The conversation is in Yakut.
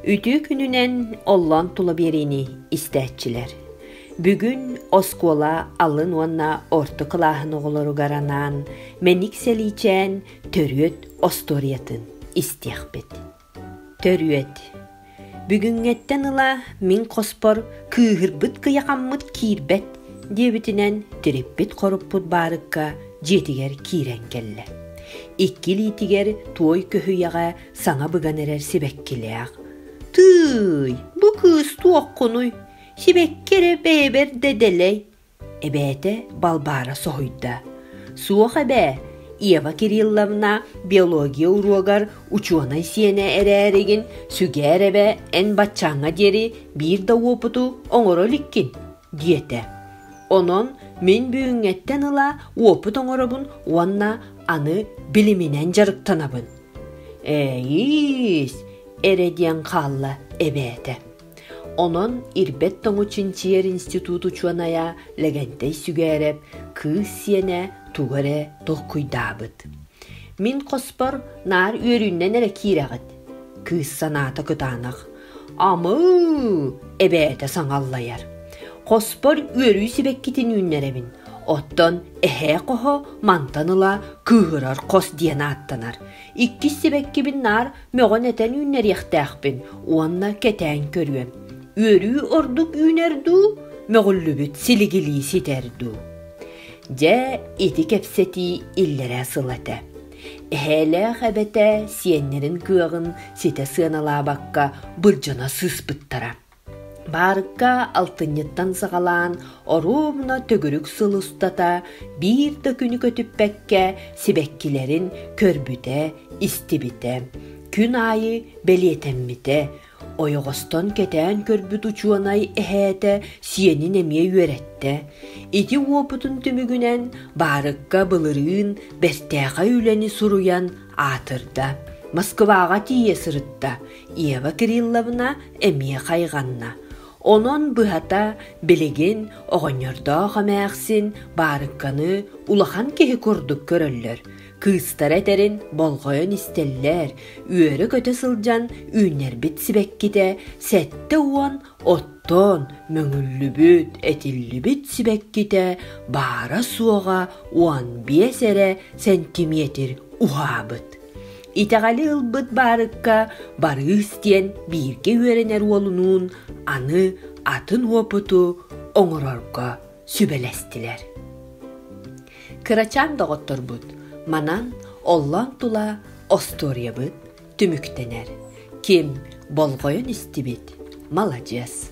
Үтүө күнүнэн оллоон тула биэриини истээччилэр. Бүгүн оскуола алын уонна орто кылааһын оҕолоругар анаан Мэник Сэлиичээн төрүөт остуоруйатын истиэхпит. Төрүөт Бүгүҥҥэттэн ыла мин хоспор кыыһырбыт кыйахаммыт киирбэт диэбитинэн тириппит хоруппут баарыкка дьиэтигэр киирэн кэллэ. Икки илиитигэр туой көһүйэҕэ саҥа быган эрэр сибэккилээх «Тыый, бу кыыс туоххунуй? Сибэкки эрэ бэйэбэр да дэлэй!» эбээтэ Балбаара соһуйда. «Суох эбээ, Ева Кирилловна биология уруогар учуонай сиэнэ эрээригин сүгээр эбэ эн баччааҥҥа диэри биир да уопуту оҥоро иликкин» диэтэ. Онон мин бүгүҥҥэттэн ыла уопут оҥоробун уонна аны билиминэн дьарыктанабын. Ээйиис, эрэ диэн хаалла эбээтэ. Онон Ирбэт тоҥу чинчийэр институт учуонайа Лэгэнтэй Сүгээрэп кыыс сиэнэ тугу эрэ толкуйдаабыт. Мин хоспор наар үөрүүннэн эрэ киирэҕит. Кыыс санаата кытаанах. Амыы эбээтэ саҥаллайар. Хоспор үөрүү сибэккитин үүннэрэбин. Оттон эһээ хоһо мантан ыла кыыһырар хос диэн ааттанар. Иккис сибэккибин наар мөҕөн этэн үүннэриэхтээхпин уонна кэтээн көрүөм. Үөрүү ордук үүнэр дуу, мөҕүллүбүт силигилии ситэр дуу. Дьэ, ити кэпсэтии иллэрээ сыл этэ. Эһээлээх эбэтэ сиэннэрин кыаҕын ситэ сыаналаабакка былдьана сыыспыттара. Баарыкка алтынньыттан саҕалаан оруобуна төгүрүк сыл устата биир да күнү көтүппэккэ сибэккилэрин көрбүтэ, истибитэ, күн аайы бэлиэтэммитэ, Ойоҕостон кэтээн көрбүт учуонай эһээтэ сиэнин эмиэ үөрэттэ. Ити уопутун түмүгүнэн баарыкка былырыын бэртээхэй үлэни суруйан аатырда. Москваҕа тиийэ сырытта. Ева Кирилловна эмиэ хайҕанна. Онон быһата билигин оҕонньордоох эмээхсин баарыкканы улахан киһи курдук көрөллөр. Кыыстара этэрин болҕойон истэллэр, үөрэ-көтө сылдьан үүннэрбит сибэккитэ сэттэ уон оттоон мөҥүллүбүт, этиллибит сибэккитэ баара-суоҕа уон биэс эрэ сэнтимиэтир уһаабыт. Итэҕэли ылбыт баарыкка Барыыс диэн бииргэ үөрэнэр уолунуун аны атын уопуту оҥорорго сүбэлэстилэр. Кырачаан доҕотторбут манан оллоон тула остуоруйабыт түмүктэнэр. Ким болҕойон истибит, маладьыас.